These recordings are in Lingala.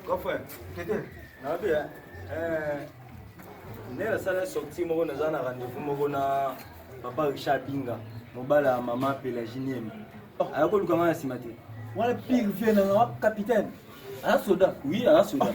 Kofre, tete, nabi eh. eh nela sala sortie moko naza na rendez-vous moko na papa Richard Binga, mobala ya mama Pelagie Niembe. Oh. Aya koluka nga na nsima te. Wana pire vie na nga capitaine. Aya soda. Oui, aya soda. Oh.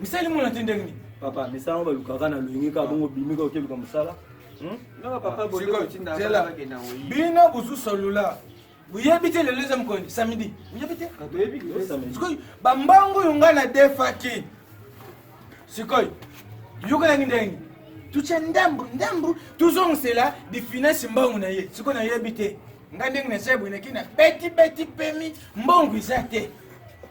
misali mona te ndenge nini papa misala ngo balukaka na loyenge kaka bongo bimi kaka okeluka mosala hmm? bino bozu solula boyebi te lelo eza mokoni samedi boyebi te sikoyo bambango oyo ngai nadefaki sikoyo yokelaki ndenge tutya ndambu ndambu tozongisela difinasi mbangu na ye sikoyo nayebi te ngai ndenge nasebwenaki na beti beti pemi mbangu eza te